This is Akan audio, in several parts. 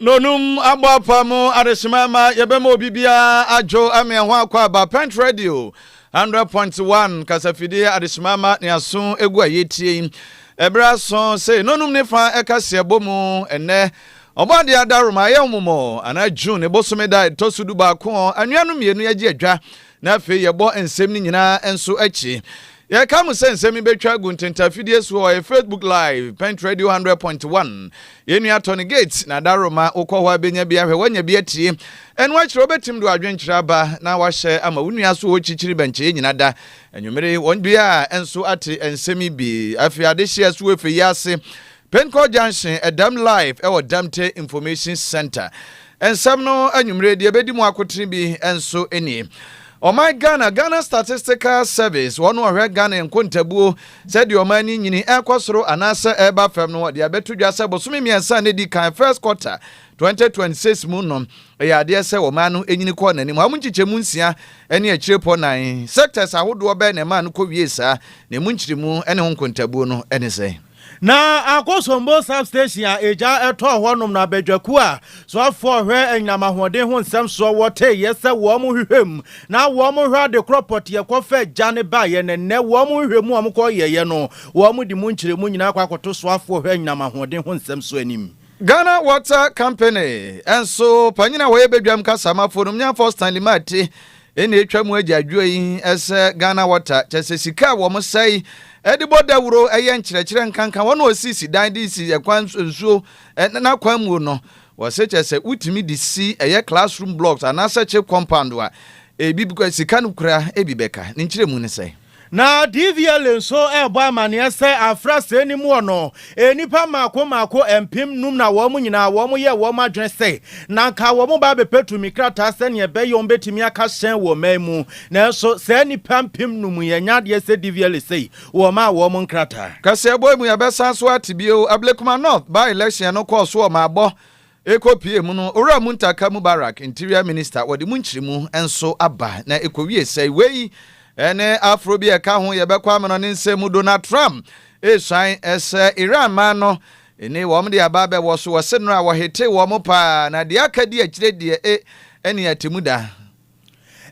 Nonum abɔ apam adesima ɛma yɛbɛma obi biara adwo ama ɛho akɔ aba. Pent Radio 100.1 kasafidie adesima ɛma ne aso egu a yɛtie yi. Ɛberɛ aso sei, nonum ne fa ɛka si ɛbɔ mu ɛnɛ. Ɔbɔ adeɛ adaworoma, ɛyɛ ɔmomɔ anaa June bosome da ɛtɔ so du baako. Anuanom mmienu agye adwa. Na afei yɛbɔ nsɛm no nyinaa nso akyi. Yɛrekae mo sɛ nsɛm yi bɛtwa agu ntɛntɛ afidie so hɔ, ɛyɛ Facebook Live, Pent Radio 100.1. Yɛn nua Tony Gates na ada roma, wokɔ hɔ a bɛnya bi ahwɛ, woanya bi atie. Ɛno akyerɛ wobɛtim de w'adwenkyerɛ aba na wahyɛ ama wo nua so wɔ kyikyiri bɛnkyɛeɛ nyina da. Anwummere wɔn biaa nso ate nsɛm yi bi. Afei adehyeɛ so wɔ efe yi ase Penkor Junction, Dɛm live wɔ Dɛmte Information Centre. Nsɛm no anwumerɛ deɛ ɛbɛdi mu akotene bi nso nie. Ɔman Ghana, Ghana Statistical Service, wɔn ɔhwɛ Ghana nkontabuo, sɛdeɛ ɔman no nyini, ɛrekɔ soro anaasɛ ɛreba fam no, wɔde abɛto dwa sɛ bosome mmiɛnsa a na ɛdi kan, first quarter, 2026 mu no, ɛyɛ adeɛ sɛ ɔman no nyini kɔɔ n'anim. Amu nkyekyɛmu nsia ne akyirepɔ nan, sectors, ahodoɔ bɛn na ɛmaa no kɔwiee saa, na ɛmu nkyeremu ne ho nkontabuo no ne sɛn? Na akɔ Sombo Sub Station a egya tɔɔ hɔnom na badwakuo a soafoɔ ɔhwɛ anyinam ahoɔden ho nsɛm soɔ wɔ teeɛ sɛ wɔn hwehwɛ mu na wɔn hwɛ ade korɔ pɔteɛ kɔ fa gya no baeɛ na nnɛ wɔn nhwehwɛ mu a wɔn kɔ yɛeɛ no wɔn de mu nkyerɛmu nyinaa kɔ akɔto soafoɔ ɔhwɛ anyinam ahoɔden ho nsɛm soɔ anim. Ghana Water Company nso panyini a wɔyɛ badwam kasamafoɔ no Myanfoɔ Stanley Martey Ɛna ɛtwa mu agyaadwoɔ yi sɛ Ghana Water kyɛ sɛ sika a wɔn sɛe de bɔ dawuro yɛ nkyerɛkyerɛ nkanka wɔn a wɔsisi dan de si kwan nsuo n'akwan muo no wɔse kyɛ sɛ wotumi de si ɛyɛ classroom blocks anaasɛ kye compound a ɛbi sika no kura ɛbi bɛka ne nkyerɛmu ne sɛn. Na DVLA nso rebɔ amanneɛ sɛ afra sei no mu no, nnipa mmaako mmaako mpem nnum na wɔn nyinaa wɔyɛɛ wɔn adwene sɛ na anka wɔbɛba abɛpɛ tumi krataa sɛnea ɛbɛyɛ wɔbɛtumi aka hyɛn wɔ ɔman mu. Nanso saa nnipa mpem nnum yi, ɛnyɛ adeɛ sɛ DVLA sei wɔmaa wɔn nkrataa. Kaseɛbɔ yi mu yɛbɛsan so ate bio. Ablekuma North by-election no kɔɔ so wɔ Mabɔ Ɛkɔ pue mu no, Owura Muntaka Mubarak, Interior Minister, wɔde mu nkyeremu nso aba na ɛkɔwie sɛe. Wei ne aforo bi a ɛka ho yɛbɛkɔ amena ne nsɛm mu. Donald Trump resuan sɛ Iran man no ni wɔn de aba abɛwɔ so. Wɔse nnora wɔhetee wɔn paa na deɛ aka di akyire deɛ e ɛne atemmuda.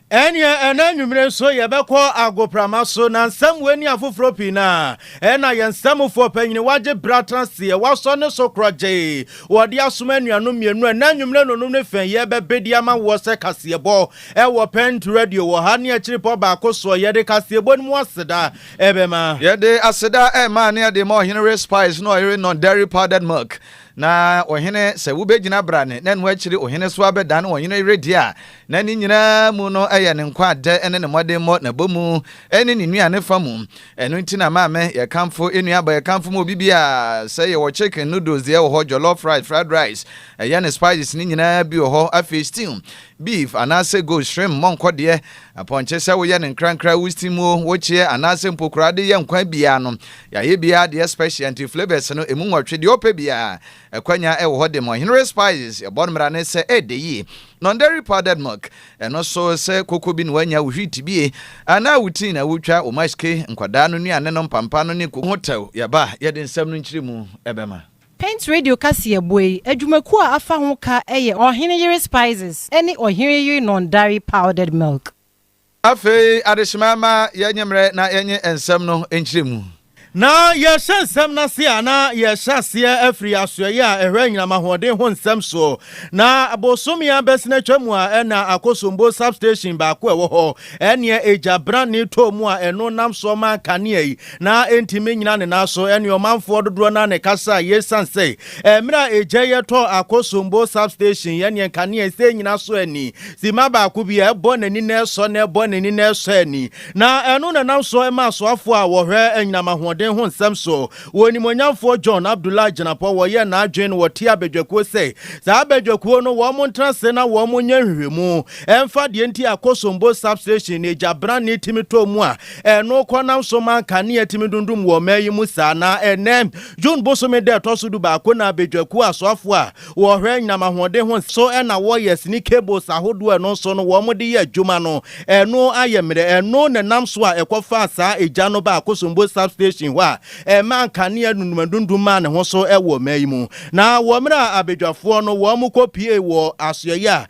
Ɛnneɛ ɛnnɛ anwummere nso yɛbɛkɔ agoprama so, na nsɛm wei ne afoforɔ pii no a ɛna yɛn nsɛmfoɔ panyini Wagye Berɛ Atraseɛ wasɔ ne so korɔgyee wɔ de asoma anuanom mmienu a ɛnnɛ anwummere no nom ne fɛ yɛrebɛbɛ de ama woɔ sɛ kaseɛbɔ wɔ Pɛnt Radio wɔ ha ne akyirepɔ baako soɔ. Yɛde kaseɛbɔ no mu aseda ɛbɛma. Yɛde aseda ɛrema ne ɛde ma Ɔhene Ray Spice ne Ɔyere Nɔn Dairy Powdered Milk Na ɔhene, sɛ wobegyina brane, na ɛno akyiri ɔhene so abɛdane ɔhene yere deɛ a, na ne nyinaa mu no yɛ ne nkwa adɛ ne ne mmɔdemmɔ, n'abɔmu ne ne nnuane fa mu. Ɛno nti na maame, yɛkamfo nnuaba, yɛkamfo ma obi biara. Sɛ yɛwɔ chicken, noodles deɛ wɔ hɔ, jollof rice, fried rice, ɛyɛ ne spices no nyinaa bi wɔ hɔ, afei stew, Beef anaasɛ goat shrimp mmɔ nkɔ deɛ, apɔnkye sɛ woyɛ no nkrankra wo steam o, wo kyeɛ anaasɛ mpo koraa de yɛ nkwan biaa no yɛayɛ biaa deɛ special nti flavours no ɛmu nwɔtwe deɛ wopɛ biaa akwanya ɛwɔ hɔ de ma ɔhene Respires yɛbɔ no mmara ne sɛ ɛɛdɛ yie Non-dairy powdered milk ɛno so sɛ koko bi na woanya wo wheat bie anaa wo tea na wotwa wo mash cake nkwadaa no nnuane no mpampa no ne koko ho tɛw yɛba a yɛde nsɛm no nkyerɛ mu ɛbɛma. Paint Radio kaseɛbɔ yi adwumakuo a afa ho ka yɛ Ɔhene Yere Spices ne Ɔhene Yere Non-Dairy Powdered Milk. Afei adehyema mma yɛnnye mmerɛ na yɛnnye nsɛm no nkyerɛmu. Na yɛrehyɛ nsɛm no ase a, na yɛrehyɛ aseɛ afiri asoɛeɛ a ɛhwɛ anyinam ahoɔden ho nsɛm soɔ. Na bosome abɛsen atwam a, ɛna Akosombo Sub-station baako a ɛwɔ hɔ Ɛnneɛ egya branee tɔɔ mu a ɛno nam soɔ maa kanea yi na ɛntumi nnyina ne nan so. Ɛnneɛ ɔmanfoɔ dodoɔ no ara na ɛkasaa yei sane sɛ mmerɛ a egya yi tɔɔ Akosombo Substation yi ɛnneɛ nkanea yi sɛ ɛnnyina so ani simma baako bi a ɛbɔ n'ani na ɛsɔ na ɛbɔ n'ani na ɛsɔ ani na ɛno na ɛnam soɔ maa asoafoɔ a wɔhwɛ anyinam ahoɔden ho nsɛm so Wɔ Onimuonyamfoɔ John Abdullah Agyinapɔ wɔyɛɛ n'adwene no wɔtee abadwakuo sɛ saa abadwakuo no wɔn ntena ase na wɔn nyɛ nhwehwɛmu mfa deɛ nti a Kosombo Sub Station no egya branee tumi tɔɔ mu a ɛno kɔ nam so ma nkanea tumi dundum wɔ ɔman yi mu saa na ɛnnɛ June bosome da ɛtɔ so dubaako na abadwakuo asoafoɔ a Wɔhwɛ anyinam ahoɔden ho nso na wɔyɛ sini cables ahodoɔ a ɛno nso no wɔn de yɛ adwuma no. Ɛno ayɛ mmerɛ. Ɛno na ɛnam so a ɛkɔfaa saa egya no baa Kosombo Substation hɔ a ɛmaa nkanea dundumadundum maa ne ho so wɔ ɔman yi mu. Na wɔ mmerɛ a abadwafoɔ no wɔn kɔ pue wɔ asoɛeɛ a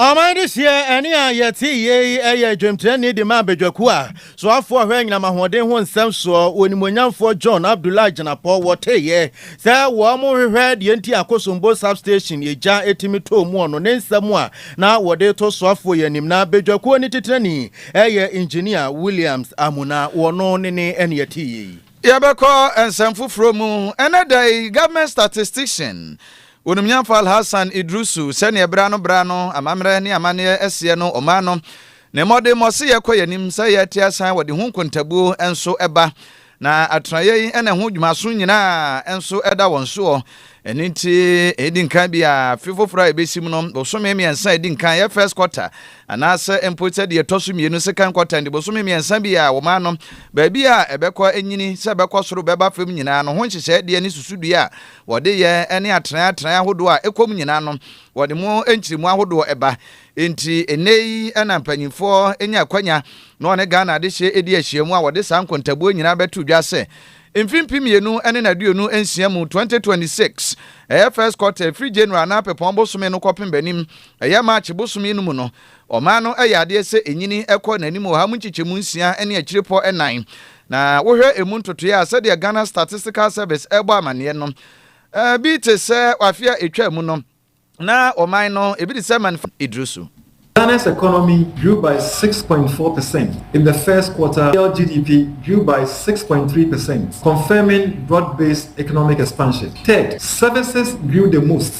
Ɔman dehyeɛ ne a yɛte yei yɛ dwamtirani de ma badwakuo a soafoɔ a ɔhwɛ anyinam ahoɔden ho nsɛm soɔ, onimuonyamfoɔ John Abdullahi Jinapor wɔ teeɛ sɛ wɔrehwehwɛ deɛ nti a Kosombo Substation egya tumi tɔɔ mu ɔno ne nsɛm a na wɔde reto soafoɔ yi anim na badwakuo no titenani yɛ Engineer Williams Amuna wɔno ne ne ne yɛte yei. Yɛbɛkɔ nsɛm foforɔ mu ɛnɛ da yi, Government Statistician Onimnyamfo Alhassan Idrisu, sɛnea bere ano bere ano amammerɛ ne amanneɛ seɛ no, ɔmaa no ne mmɔdemmɔ se yɛkɔ yɛn anim, sɛ yɛte asan wɔde ho nkontabuo nso ba, na atenaeɛ yi na ɛho dwumaso nyinaa nso da wɔn soɔ. Ɛno nti, ɛdi nkan bi a afe foforɔ a ɛbɛsi mu no, bosome mmiɛnsa a ɛdi nkan yɛ first quarter, anaasɛ mpo sɛ deɛ ɛtɔ so mmienu second quarter, nti bosome mmiɛnsa bi a wɔmaa no baabi a ɛbɛkɔ nyini, sɛ ɛbɛkɔ soro bɛba fam nyinaa no ho nhyehyɛeɛ deɛ ne susudua a Wɔde yɛ ne atenae atenae ahodoɔ a ɛkɔm nyinaa no, wɔde mu nkyeremu ahodoɔ ba. Enti nnɛ yi na mpanyinfoɔ nya akwanya na wɔne Ghana adehyeɛ di ahyiamu a wɔde saa nkontabuo nyinaa bɛto dwa sɛ mfe mpem mmienu ne naduonu nsia mu, 2026, ɛyɛ first quarter, ɛfiri January anaa Pɛpɔn bosome no kɔpem bɛnim, ɛyɛ March bosome no mu no. Ɔman no yɛ adeɛ sɛ ɛnyini kɔ n'anim wɔ ha mu nkyekyɛmu nsia ne akyirepɔ nnan. Na wohwɛ ɛmu ntotoeɛ a, sɛdeɛ Ghana Statistical Service ɛrebɔ amaneɛ no, bi te sɛ afe a ɛtwaa mu no, na ɔman no, ɛbi te sɛ man fam, ɛduru so. Ghana's economy grew by six point four percent in the first quarter while GDP grew by six point three percent, confirming broad-based economic expansion. Third, services grew the most.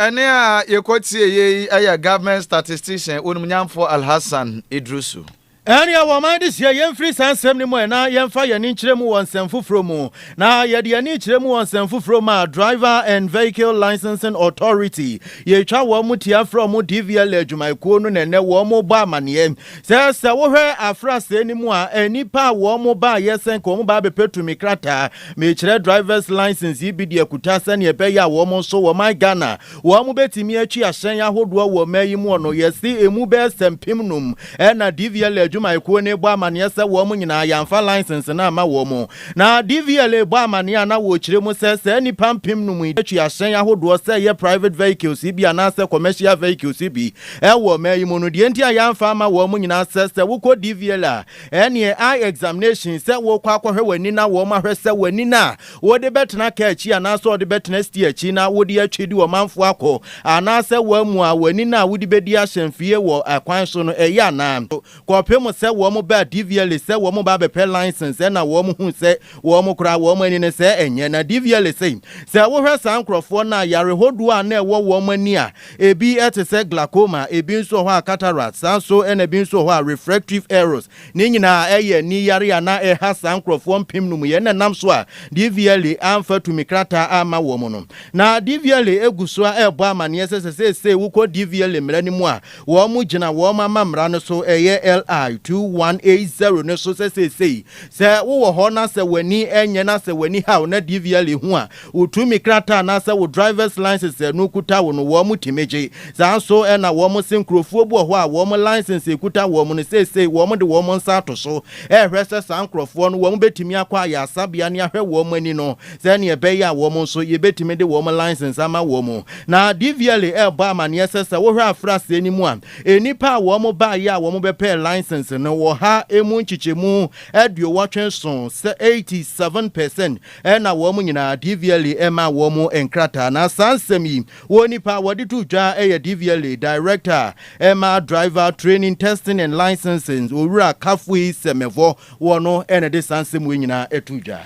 Ɛnne a yɛkɔtieeɛ yi yɛ Government Statistician Onimnyamfoɔ Alhassan Idrusu. Ɛnneɛ wɔn mma de hyia yɛmfiri saa nsɛm no mu ɛ na yɛmfa yɛn ani nkyerɛ mu wɔ nsɛm foforɔ mu. Na yɛde yɛn ani kyerɛ mu wɔ nsɛm foforɔ mu a, Driver and Vehicle Licensing Authority, yɛtwa wɔn tia frɛ wɔn DVLA adwumayɛkuo no na ɛnnɛ wɔrebɔ amaneɛ sɛ sɛ wohwɛ afrasɛɛ no mu a, nnipa a wɔbaeɛ sɛ nka wɔba abɛpɛ tumi krataa Mekyerɛ drivers license yi bi de akuta sɛnea ɛbɛyɛ a wɔn nso wɔ man Ghana wɔn betumi atwi ahyɛn ahodoɔ wɔ mɛ yi muɔ no yɛse emu bɛyɛ sɛ mpem num ɛna DVLA adwumayɛkuo no bɔ amaneɛ sɛ wɔn nyinaa yɛanfa license no amma wɔn na DVLA bɔ amaneɛ a na wɔkyerɛ mu sɛ saa nnipa mpem num yi atwi ahyɛn ahodoɔ sɛ ɛyɛ private vehicles yi bi anaasɛ commercial vehicles yi bi ɛwɔ mɛ yi mu no deɛ nti a yɛanfa ama wɔn nyinaa sɛ sɛ wokɔ DVLA Ɛneɛ eye examination sɛ wokɔ akɔhwɛ w'ani na wɔn ahwɛ sɛ w'ani no a wode bɛtena car akyi anaasɛ wɔde bɛtena steer akyi na wode atwi de ɔmanfoɔ akɔ anaasɛ woamu a w'ani no a wode bɛdi ahyɛmfie wɔ kwan so no ɛyɛ anaa. Kɔpem sɛ wɔn baa Divielle sɛ wɔn reba abɛpɛ license ɛna wɔn huu sɛ wɔn koraa wɔn ani no sɛ ɛnyɛ na Divielle se sɛ wohwɛ saa nkorɔfoɔ no a yare hodoɔ a na ɛwɔ wɔn ani a Ebi te sɛ glaucoma, ebi nso wɔ hɔ a cataract, saa nso na ebi nso wɔ hɔ a refractive errors. Ne nyinaa ɛyɛ ani yare a na ɛha saa nkorɔfoɔ mpem no mu yɛ na ɛnam so a Divielle amfa tumi krataa amma wɔn no. Na Divielle gu so ara rebɔ amaneɛ sɛ sɛ seesei wokɔ Divielle mmara no mu a, wɔn gyina wɔn amammara no so, ɛyɛ LI 2180 no so sɛ seesei sɛ wowɔ hɔ na sɛ w'ani nyɛ na sɛ w'ani haw na Divielle hu a, Wo tumi krataa anaasɛ wo driver's license a ɛno kuta wo no wɔn tumi gye. Saa nso na wɔn se nkurɔfoɔ bi wɔ hɔ a wɔn license a ɛkuta wɔn no seesei wɔn de wɔn nsa ato so rehwɛ sɛ saa nkurɔfoɔ no wɔn bɛtumi akɔ ayaresabea na yɛahwɛ wɔn ani no sɛdeɛ ɛbɛyɛ a wɔn nso yɛbɛtumi de wɔn license ama wɔn. Na DVLA rebɔ amaneɛ sɛ sɛ wohwɛ afra aseɛ no mu a nnipa a wɔn baeɛ a wɔn bɛpɛɛ license no wɔ ha ɛmu nkyekyɛmu aduowɔtwe nson, 87 percent, na wɔn nyinaa dvla maa wɔn nkrataa. Na saa nsɛm yi wɔ nipa a wɔde to dwa yɛ dvla Director ma Driver Training, Testing and Licensing, Owura Kafui Semevɔ, wɔn na ɛde saa nsɛm wei nyinaa to dwa.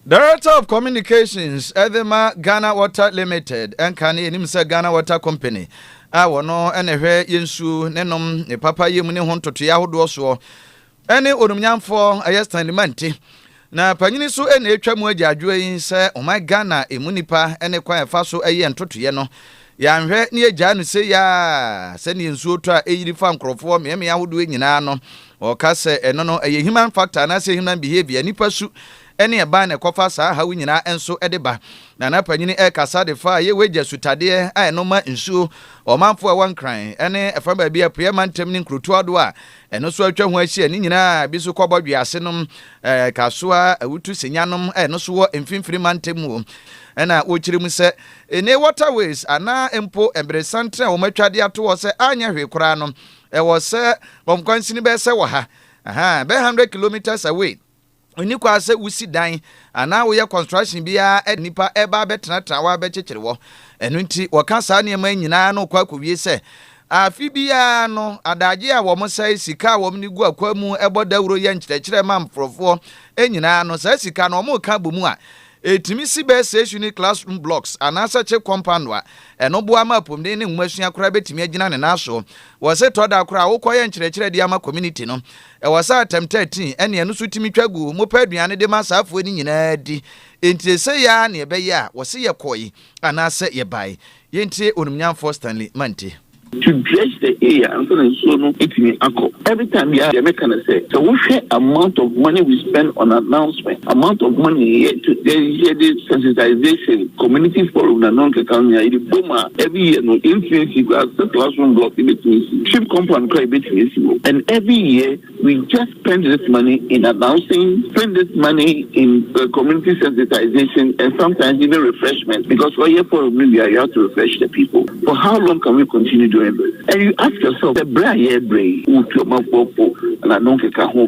Director of Communications de ma Ghana Water Limited, nka ne yɛnim sɛ Ghana Water Company, a wɔn na ɛhwɛ yɛn nsuo ne nom, ne papa yɛ mu ne ho ntotoeɛ ahodoɔ soɔ. Ɛne onumnyamfoɔ ɛyɛ Stanley Mante. Na panyini so na ɛretwa mu agyaadwoɔ yi sɛ ɔman Ghana ɛmu nipa ne kwan a ɛfa so yɛ ntotoeɛ no, yɛanhwɛ na yɛgyae no sei ara a, sɛdeɛ nsuo tɔ a ɛyiri fa nkorɔfoɔ mmeammea ahodoɔ nyinaa no, ɔka sɛ ɛno no ɛyɛ human factor anaasɛ human behaviour, nnipa su ne ɛban na ɛkɔfa saa haw yi nyinaa nso de ba. Nana panyini ɛrekasa de faa Yewa Agya sutadeɛ a ɛno ma nsuo ɔmanfoɔ a ɛwɔ Nkran ne ɛfa baabi a apueɛ mantam ne nkurotoɔ ahodoɔ a Ɛno nso atwa ho ahyia. Ne nyinaa bi nso kɔ bɔdwe ase nom. Ɛɛ, Kasoa Awutu Senya nom a ɛno nso wɔ Mfimfini Mantam mu o. Ɛna wɔkyerɛ mu sɛ, Ene waterways anaa mpo mberesanten a wɔatwa de ato hɔ sɛ anyɛ hwee koraa no, ɛwɔ sɛ wɔn kwansini bɛyɛ sɛ wɔ ha, ahaa, bɛyɛ hundred kilometres away. Nni kwa sɛ wusi dan anaa woyɛ construction biara de nnipa reba abɛtenatena hɔ abɛkyekyere hɔ. Ɛno nti, wɔka saa nneɛma yi nyinaa na wɔkɔ akowie sɛ, Afe biara no, adagye a wɔsɛe, sika a wɔde gu akwan mu, bɔ dawuro, yɛ nkyerɛkyerɛ ma nkurɔfoɔ nyinaa no, saa sika no, wɔka bɔ mu a, ɛtumi si bɛyɛ six unit classroom blocks anaasɛ kye compound a ɛno boa ma apɔmuden ne nwomasua koraa bɛtumi agyina ne nan so. Wɔse tɔ da koraa a wokɔyɛ nkyerɛkyerɛ de ama community no, Ɛwɔ sɛ atɛm thirteen, ɛne ɛno nso tumi twa gu, mopɛ aduane de ma saa afoa no nyinaa di. Yɛntie sei ara na ɛbɛyɛ a wɔse yɛkɔe anaasɛ yɛbae. Yɛntie Onimnyamfoɔ Stanley Mante. To dredge the area ansa na nsuo no atumi akɔ. Every time biara deɛ meka ne sɛ, sɛ wohwɛ amount of money we spend on announcement. Amount of money yɛ to yɛ yɛ de sensitization community forum na no nkeka nyinaa yɛ de bom a every year no yɛn tumi si kura sɛ classroom block yɛ betumi si ship compound kura yɛ betumi si hɔ and every year we just spend this money in announcing spend this money in uh, community sensitization and sometimes even refreshment because all year forum no you have to refresh the people for how long can we continue doing this and you ask yourself the brand yɛ brand wutu ɔmafo fo na no nkeka ho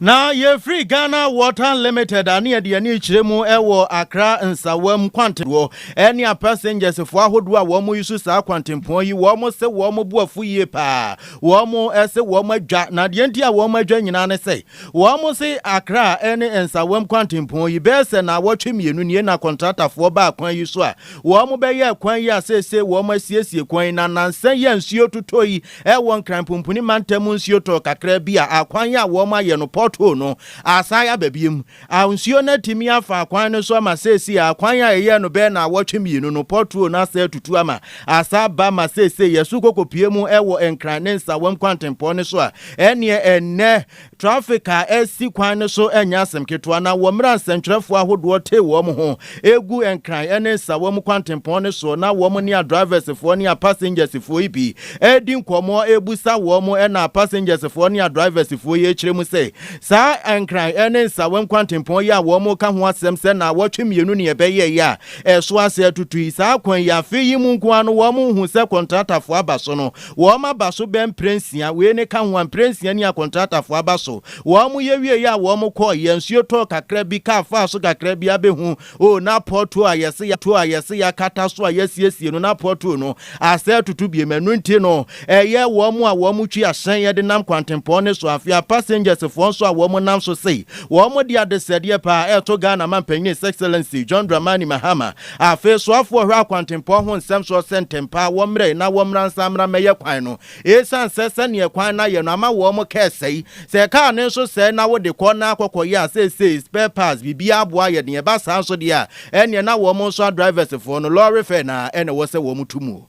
Na yɛfiri Ghana Water Limited a ne yɛde yɛn ani rekyerɛ mu wɔ Accra Nsawam kwantedoɔ ne a passengers foɔ ahodoɔ a wɔn yi so saa kwantempɔn yi wɔn se wɔn bo afu yie paa wɔn se wɔn adwa na deɛ nti a wɔn adwa nyinaa ne sɛ wɔn se Accra ne Nsawam kwantempɔn yi bɛyɛ sɛ na awɔtwe mmienu nie na kɔntratafoɔ baa kwan yi so a wɔn bɛyɛ kwan yi a seesei wɔn asiesie kwan yi na nansa yi a nsuo totɔ yi Ɛwɔ Nkran Pumpuni Mantam mu nsuo tɔɔ kakra bi a akwan yi a wɔayɛ no port hole no asan aba biom. A Nsuo no atumi afa akwan no so ama seesei a akwan a yɛyɛɛ no bɛyɛ naawɔtwe mmienu no port hole no asan atutu ama asan aba ma seesei yɛso kɔkɔpue mu wɔ Nkran ne Nsawam kwantempɔn no so a ɛneɛ ɛnnɛ Trafik a ɛsi kwan no so nyɛ asɛm ketewa, na wɔ mmra nsɛnkyerɛfoɔ ahodoɔ tee wɔn ho gu Nkran ne Nsawam nkwantempɔn no soɔ na wɔn ne a drivers foɔ ne a passengers foɔ yi pii redi nkɔmmɔ rebisa wɔn na a passengers foɔ ne a drivers foɔ yi rekyerɛ mu sɛ saa Nkran ne Nsawam nkwantempɔn yi a wɔn reka ho asɛm sɛ naawɔtwe mmienu ne ɛbɛyɛɛ yi a ɛso ase atutu yi saa kwan yi afe yi mu nko ara no wɔn nhu sɛ kɔntratafoɔ aba so no Wɔn aba so bɛɛ mprɛnsia, wei ne ka ho a, mprɛnsia ni a kɔntratafo aba so. Wɔn yɛ wieeɛ a wɔn kɔɔ, yɛ nsuo tɔɔ kakra bi, kaa faa so kakra bi abɛhu, oh na pɔtoo a yɛse yɛ to a yɛse yɛakata so a yɛasiesie no na pɔtoo no asɛ atutu biom, ɛno nti no ɛyɛ wɔn a wɔn twi ahyɛn yɛ de nam kwantempɔn ne so, afei a passengers foɔ nso a wɔn nam so sei wɔn de adesɛdeɛ paa ɛɛto Ghana mampanin His Excellency John Dramani Mahama Afei soafoɔ hwɛ akwantempɔn ho nsɛm soɔ sɛ ntɛmpaa wɔmmrɛ na wɔmmra nsa mmra mmɛyɛ kwan no. Esiane sɛ sɛdeɛ kwan no ayɛ no ama wɔn kaa sɛe. Sɛ kaa no nso sɛe na wode kɔ na akɔkɔyɛ a seesei spare parts biribiara aboa ayɛ den ɛba saa nso deɛ a ɛnneɛ na wɔn nso a drivers foɔ no lɔre fare no ara na ɛwɔ sɛ wɔn tu mu o.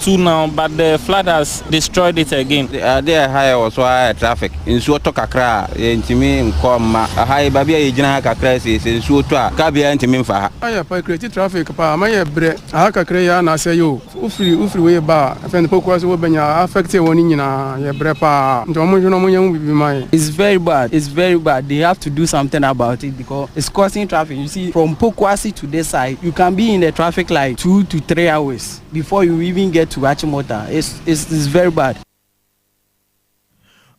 too now but the flood has destroyed it again. Ade a ɛha yɛ wɔ so ara yɛ traffic. Nsuo tɔ kakra a, yɛntumi nkɔ mma. Ɛha yi, baabi a yɛgyina ha kakra yi sei, sɛ nsuo tɔ a, kaa biara ntumi mfa ha. Ayɛ pa, Ekreti traffic paa ama yɛ brɛ. Aha kakra yi ara na asɛe o. Wo firi, wo firi wei ba a, ɛfɛn de Pokuase wɔ Bɛnya a, a affect wɔn nyinaa. Yɛ brɛ paa. Nti wɔn nhwɛ na wɔn nyɛ ho biribi ma yɛn. It's very bad, it's very bad, they have to do something about it because it's causing traffic, you see from Pokuase to this side, you can be in the traffic like two to three hours. before you even get to Achimota is is is very bad.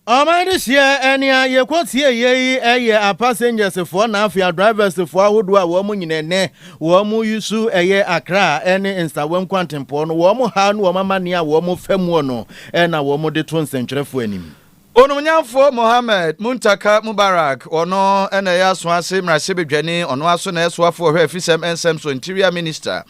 Ɔman de hyeɛ nea yɛkɔ tie yɛ yi ɛyɛ a passengers foɔ na afei a drivers foɔ ahodoɔ a wɔn nyina ɛnɛ wɔn yi su ɛyɛ Accra ɛne Nsawa nkwantempɔn no wɔn ha no wɔn amanneɛ a wɔn fa muo no ɛna wɔn de to nsɛntwerɛfoɔ anim. Onumnyamfoɔ Mohammed Muntaka Mubarak, ɔno na ɛyɛ asoase mmarahyɛbadwani, ɔno ara nso na ɛyɛ soafoɔ ɔhwɛ afisɛm nsɛm so, Interior Minister,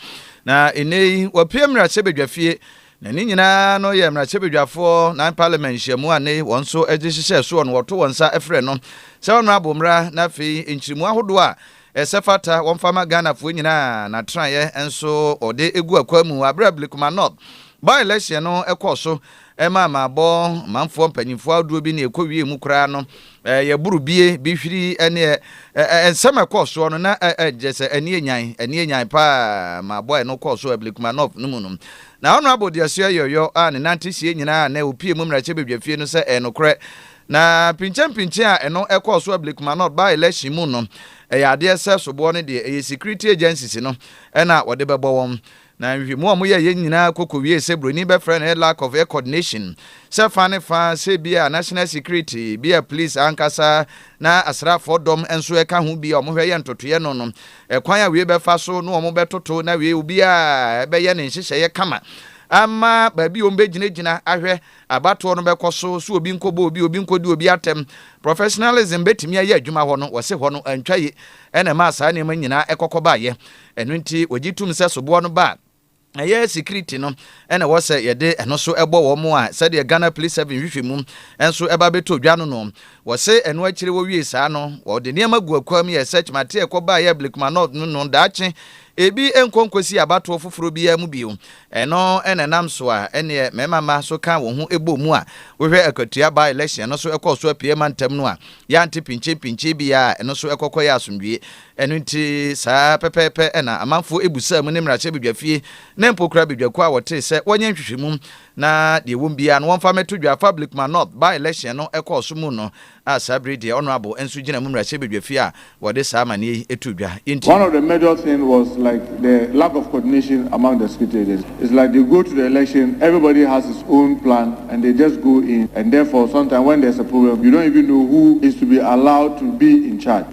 na nnɛ yi wapue mmarahyɛbadwafie, na ne nyinaa no yɛ mmarahyɛbadwafoɔ nan Parliament nhyiamu a nnɛ yi wɔn nso de hyehyɛɛ soɔ no wɔto wɔn nsa frɛ no sɛ Honourable mmra na afei nkyirimu ahodoɔ a ɛsɛ fata wɔmfa ma Ghanafoɔ nyinaa n'atenaeɛ nso ɔde gu akwan mu wɔ aberɛ a Blekuma North by-election no kɔɔ so ɛma amabɔ manfoɔ mpanimfoɔ ahodoɔ bi ne ɛkɔwiee mu koraa no yɛ borobie bi hwiri ne nsɛm ɛkɔɔ soɔ no na ɛgyɛ sɛ ɛneɛ nyan ɛneɛ nyan paa ma bɔ ɛno kɔɔ so Ablikmanov no mu no na Honorable Deasoɛ Yɔyɔ a ne nante sie nyinaa na ɔpie mu mmarahyɛ badwafie no sɛ ɛyɛ nokorɛ na pinkyɛmpinkyɛn a ɛno ɛkɔɔ so Ablikmanov by election mu no ɛyɛ adeɛ sɛ soboɔ no deɛ ɛyɛ security agencies no ɛna wɔde bɛbɔ wɔn Na nhwehwɛmu a wɔyɛeɛ nyinaa kɔ kɔwiee sɛ buroni bɛfrɛ no lack of coordination, sɛ fa ne fa, sɛ ebia national security, bia police ankasa, na asraafoɔ dɔm nso ɛka ho bi a wɔhwɛ yɛ ntotoeɛ no no, ɛkwan a wei bɛfa so na wɔbɛtoto na wei obiara bɛyɛ ne nhyehyɛeɛ kama ama baabi a wɔbɛgyinagyina ahwɛ abatoɔ no bɛkɔ so, so obi nkɔbɔ obi, obi nkɔdi obi atɛm, professionalism bɛtumi ayɛ adwuma hɔ no, wɔse hɔ no antwa yi na ɛmaa saa nneɛma nyinaa ɛkɔkɔ baeɛ. Ɛno nti, wɔgye tom sɛ soboɔ no ba a, ɛyɛ security no na ɛwɔ sɛ yɛde ɛno so bɔ wɔn a sɛdeɛ Ghana Police Service nhwehwɛmu nso ɛba bɛtɔ dwa no no. Wɔse ɛno akyire wɔwiee saa no, wɔde nneɛma gu akwam yɛɛ search mate ɛkɔ baa yɛɛ Blekuma North no no daakye ebi nkɔ nkɔsi abatoɔ foforɔ biara mu bio. Ɛno na ɛnam so a ɛneɛ mmarima mma so ka wɔn ho bɔɔ mu a wohwɛ akatua by election no so ɛkɔɔ so apiee mantam no a yɛante pinkyenpinkyen biara a ɛno so ɛkɔkɔyɛ asomdwie Ɛno nti, saa ara pɛpɛɛpɛ na amanfoɔ bisaa mu ne mmarahyɛbadwafie na mpo koraa badwakuo a wɔtee sɛ wɔnyɛ nhwehwɛmu na deɛ ɛwɔ mu biara no wɔmfa mmɛto dwa afa Blickman North by-election no ɛkɔɔ so mu no a saa berɛ yi deɛ Honourable nso gyina mu mmarahyɛbadwafie a wɔde saa amanneɛ yi too dwa enti One of the major thing was like the lack of coordination among the security agencies. It's like they go to the election, everybody has his own plan and they just go in and therefore sometimes when there's a problem, you don't even know who is to be allowed to be in charge.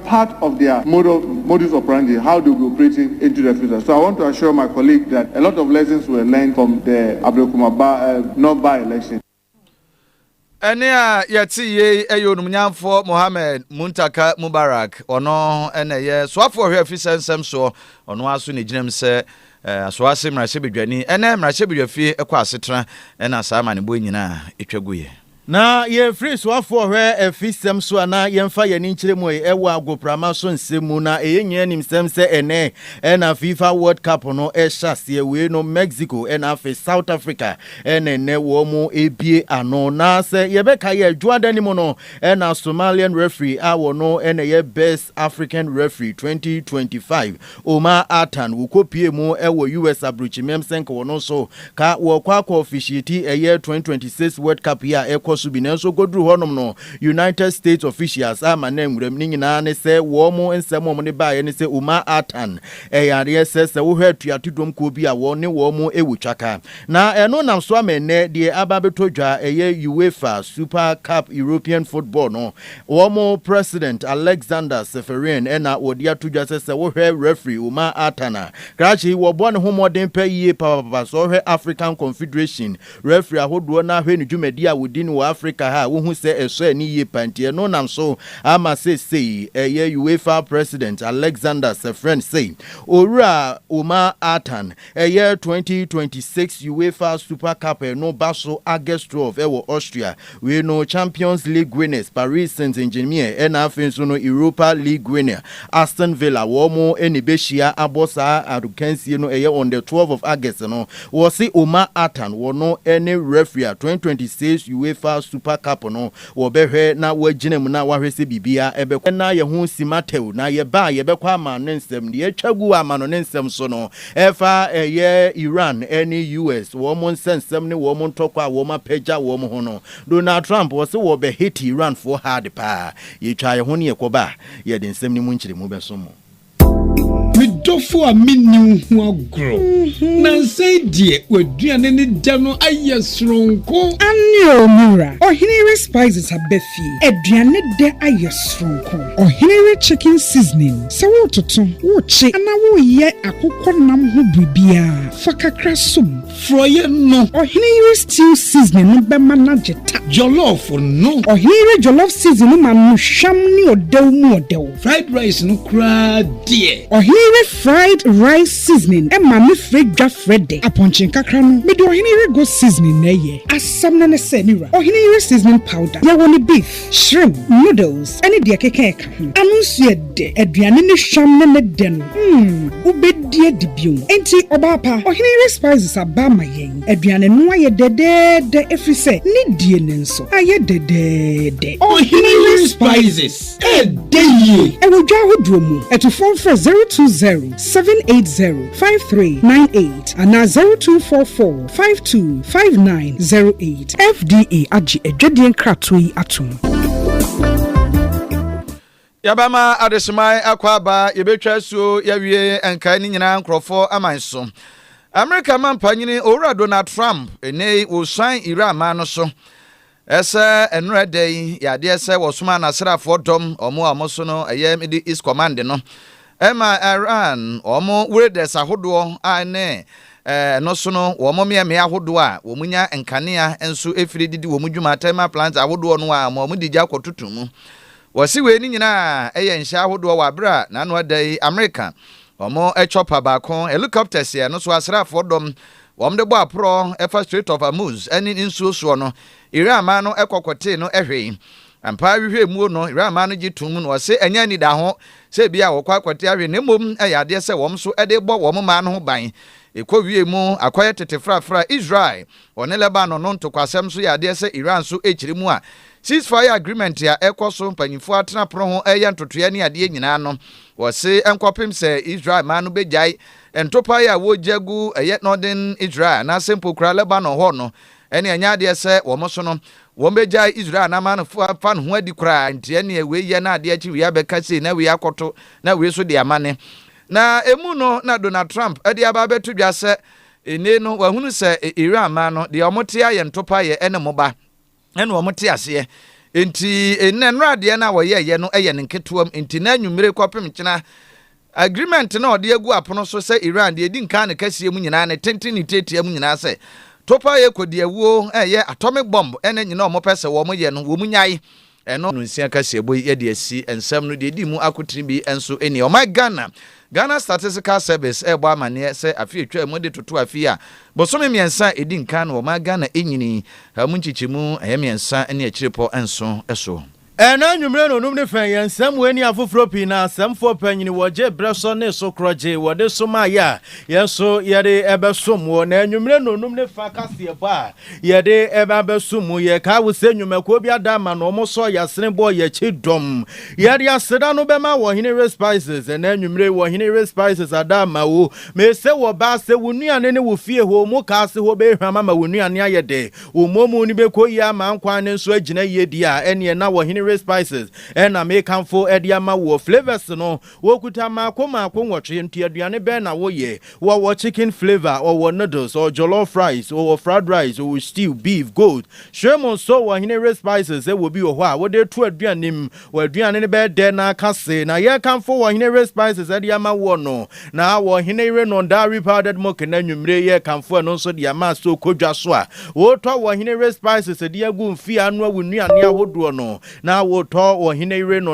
part of their model modus operandi how they will be operating into the future so I want to assure my colleague that a lot of lessons were learned from the Ablekuma ba eh, North by election. Ɛne a yɛte yei yɛ onumnyamfoɔ Mohammed Muntaka Mubarak. Ɔno na ɛyɛ soafoɔ hwɛ afisɛ nsɛm soɔ. Ɔno ara so na ɛgyina mu sɛ eh, asoase mmarahyɛbadwani. Ɛnɛ mmarahyɛbadwafie kɔ asetena na saa amanebɔ nyinaa ɛtwa guiɛ. Na yɛmfiri soafoɔ hwɛ afi sɛm so a na yɛmfa yɛn ani nkyerɛ mu ɛ wɔ agoprama so nsɛm mu. Na ɛyɛ nyinaa nim sɛm sɛ ɛnnɛ na FIFA World Cup no hyɛ aseɛ. Wei no Mexico na afei South Africa na ɛnnɛ wɔn ɛbie ano. Na sɛ yɛbɛka yɛ Dwoada no mu no na Somalian referee a wɔno na ɛyɛ best African referee 2025 Omar Artan, wokopie mu wɔ US abrukyimeam sɛnk wɔ no so ka wɔɔkɔ akɔ ɔfihyieti ɛyɛ 2026 World Cup yi a ɛkɔ so bi nanso ɔkɔduru hɔ nom no United States ofihyials amma no anwuram ne nyinaa ne sɛ wɔɔ mo nsɛm wɔɔ mo de baeɛ ne sɛ Omar Artan ɛyɛ adeɛ sɛ sɛ wohwɛ atuato dwom kuo bi a wɔɔ ne wɔɔ mo wɔ twaka na ɛno nam so ama ɛnnɛ deɛ aba abɛtɔ dwa ɛyɛ UEFA Super Cup European Football no Wɔn president Alexander Ceferin na wɔde ato dwa sɛ sɛ wohwɛ referee Umar Artan a, krakye yi wɔbɔ ne ho mmɔden pɛ yie papapapa. Sɛ wohwɛ African Confederation referee ahodoɔ na hwɛ ne dwumadie a wɔdi no wɔ Africa ha a, wohu sɛ ɛsɔ ani yie pa. Nti ɛno nam so ama seesei ɛyɛ UEFA president Alexander Ceferin sei, Owura Umar Artan, Ɛyɛ twenty twenty six UEFA Super Cup no ba so August twelve wɔ Austria. Wei no Champions League winners Paris Saint-Germain ɛna afei nso no Europa League winner Aston Villa wɔn ɛna ɛbɛhyia abɔ saa akansie no ɛyɛ on the twelve of August no. Wɔse Omar Attan wɔno ɛne referee a twenty twenty six UEFA Super Cup no Wɔbɛhwɛ na wɔagyina mu na wɔahwɛ sɛ biribiara bɛkɔ. Yɛn na yɛn ho nsi ma tɛw, na yɛba a yɛbɛkɔ ama no nsɛm. Deɛ atwa gu ama no ne nsɛm so no, ɛfa ɛyɛ Iran ne US, wɔn nsɛnsɛm ne wɔn ntɔkwa a wɔapagya wɔn ho no. Donald Trump, ɔse wɔbɛ hate Iranfoɔ hard paa. Yɛtwaa yɛn ho ne yɛkɔba a, yɛde nsɛm no mu nkyerɛmu bɛso mo. Me dɔfo a minni wo ho agorɔ. Nnansa yi deɛ, w'aduane ne dɛ no ayɛ soronko. Aane oo, me wura. Ɔhene Ire Spices aba fie. Aduane dɛ ayɛ soronko. Ɔhene Ire Chicken Seasoning. Sɛ woretoto, worekye anaa woreyɛ akokɔ nam ho biribiara, fa kakra som. Frɔeɛ no. Ɔhene yere stew seasoning no bɛma no agye ta. Jollof no. Ɔhene yere jollof seasoning no ma no hwam ne ɔdɛw mu ɔdɛw. Fried rice no koraa deɛ. Ɔhene yere fried rice seasoning ma me frɛ dwa frɛ dɛ. Apɔnkye nkakra no, mede ɔhene yere goat seasoning na ɛyɛ. Asɛm no ne sɛ, me wura, ɔhene yere seasoning powder, yɛwɔ no beef. Shrimp, noodles ne deɛ ɛkeka ɛka ho. Ano nso yɛ dɛ. Aduane ne hwam ne ne dɛ no, mm, wobɛdi adi bio. Enti, ɔbaa pa, ɔhene yere spices aba ama yɛn. Aduane no ayɛ dɛdɛɛdɛ ɛfiri sɛ ne die no nso ayɛ dɛdɛɛdɛ. Ɔhene yere spices ɛdɛ yie. Ɛwɔ dwa ahodoɔ mu. Atufoɔ mfrɛ zero two zero seven eight zero five three nine eight anaa zero two four four. Five two five nine zero eight. FDA agye adwadie nkratoɔ yi atom. Yɛbɛma adesoman akɔ aba, yɛbɛtwa asuo yɛawie nkae ne nyinaa nkurɔfoɔ aman so. Amerika mampanyini Owura Donald Trump ɛnɛi wɔsan Iran man no so. Ɛsɛ ɛnora da yi yɛ adeɛ sɛ wɔsoma nasraafoɔ dɔm wɔn a wɔn so no ɛyɛ Middle East Command no ma Iran wɔn wereders ahodoɔ a ɛne ɛno so no wɔn mmeammea ahodoɔ a wɔn nya nkanea nso ɛfiri de di wɔn dwuma thermal plants ahodoɔ no a ma wɔn de gya kɔtoto mu. Wɔse wei no nyinaa ɛyɛ nhyɛ ahodoɔ wɔ abere a n'ano ada yi Amerika wɔn chopper baako helicopters yɛ ɛno so asraafoɔ dɔm Wɔde bɔ aporɔ fa Strait of Hormuz ne ne nsuo soɔ no, Iran man no kɔ kɔtee no hwee. Ampa ara hwehwɛ mmuo no, Iran man no gye toom na wɔse ɛnyɛ anidaho sɛ ebia wɔkɔ akɔte ahwe na mmom ɛyɛ adeɛ sɛ wɔn nso de rebɔ wɔn man no ho ban. Ɛkɔ wiee mu akɔyɛ tete frafra. Israel, ɔne Lebanon no ntokwasɛm nso yɛ adeɛ sɛ Iran nso rekyere mu a ceasefire agreement a ɛkɔ so mpanyimfoɔ atena pono ho reyɛ ntotoeɛ ne adeɛ nyinaa no, wɔse nkɔpem sɛ Israel man no bɛgyae Ntopae a wogya gu ɛyɛ Northern Israel anaasɛ mpo koraa Lebanon hɔ no, ɛnneɛ ɛnyɛ adeɛ sɛ wɔn so no, wɔbɛgyae Israel na ama no afa ne ho adi koraa. Enti ɛnneɛ wei yɛ na adeɛ akyi wei abɛka sei na wei akɔto na wei nso de amane. Na emu no na Donald Trump de aba abɛto dwa sɛ nnei no wahunu sɛ Iran man no deɛ wɔte ayɛ ntopaeɛ ne mmoba. na wɔn te aseɛ nti nnɛ nnora adeɛ no a wɔyɛɛyɛ no yɛ no nketewam nti na anwummere kɔpem nkyena agreement no a ɔde agu apono so sɛ Iran deɛ ɛdi nkan ne kɛseɛ mu nyinaa ne tenten ne tiatia mu nyinaa sɛ topa yɛ kɔdi awuo ɛyɛ atomic bomb ɛna nyina wɔn pɛ sɛ wɔn yɛ no wɔn nyae ɛno no nsia kɛseɛ bɔ yi yɛde asi nsɛm no deɛ ɛdi mu akotene bi nso ɛni ɔman Ghana Ghana Statistical Service rebɔ amanneɛ sɛ afe a etwaa mu de toto afe yi a bosome mmiɛnsa a edi nkan na wɔmaa Ghana nyinii a emu nkyekyɛmu ɛyɛ mmiɛnsa ne akyirepɔ nson so. Ɛnnɛ anwummere nnɔnnum ne fã yi, nsɛmmoa ne afoforo pii na asɛmfo panyin wɔ gye bere so ne so korɔgye wɔde somae a yɛn nso yɛde bɛsom mo. Na anwummere nnɔnnum ne fã kaseɛbɔ a Yɛde ɛba bɛso mu. Yɛkae wo sɛ nnwumakuo bi ada ama na wɔsɔɔ yɛn asene bɔɔ yɛn akyi dɔm. Yɛde aseda no bɛma wɔ Ɔhene Ray Spices. Ɛnnɛ anwummere yi, wɔ Ɔhene Ray Spices ada ama wo. Me sɛ wɔ ba ase, wo nnuane ne wo fie hɔ, mu ka ase hɔ bɛhwam ama wo nnuane ayɛ dɛ. Wo mmɔmu no bɛkɔ yie ama nkwan no nso agyina yie deɛ a, ɛneɛ na wɔ Ɔhene Ray Spices na meka mfo de ama woɔ. Flavours no, Wɔkuta mmaako mmaako nwɔtwe. Nti aduane bɛn na woyɛ? Wɔwɔ chicken flavour, wɔwɔ noodles, wɔwɔ jollof rice, wɔwɔ fried rice, wɔwɔ stew, beef, goat, shrimp nso wɔ hene re spices sɛ wɔ bi wɔ hɔ a wode to aduane mu wɔ aduane no bɛyɛ dɛ na aka se na yɛ kamfo wɔ hene re spices de ama woɔ no na wɔ hene re non dairy powdered milk na anwummere yɛ kamfo ɛno nso de ama sɛ okɔ dwa so a wotɔ wɔ hene re spices de agu mfeɛ anoa wo nnuane ahodoɔ no na wotɔ wɔ hene re non